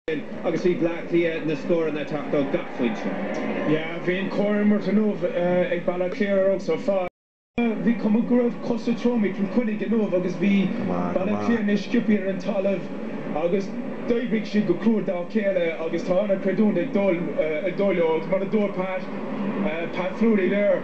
sin agus bhí Bleá Cliath na scóranna ag teacht ó gach foinse. Yeah, bhí an-chomhimirt inniu ag Baile Átha Cliath ar so far. Yeah, bhí cuma go raibh cosa trom ag Cill Chainnigh inniu agus bhí Baile Átha Cliath níos sciopthaí ar an talamh agus d'oibrigh siad go crua dá chéile agus tá an-chreidiúint ag dul dóibh agus mar a dúirt Pat, Pat Fleury there.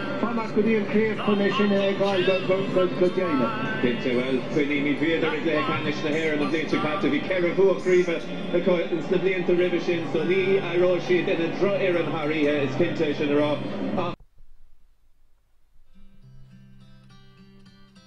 fanacht go dtí an chéad chluiche sin a fheiceáil go deimhneach. Cinnte, bhuel, cuimhnímid, bhíodar i gcluiche ceannais na hÉireann an bhliain seo caite, bhí ceithre bhua craoibhe acu sna blianta roimhe sin, so ní éireoidh siad ina drochfhoireann thar oíche, is cinnte é sin a rá.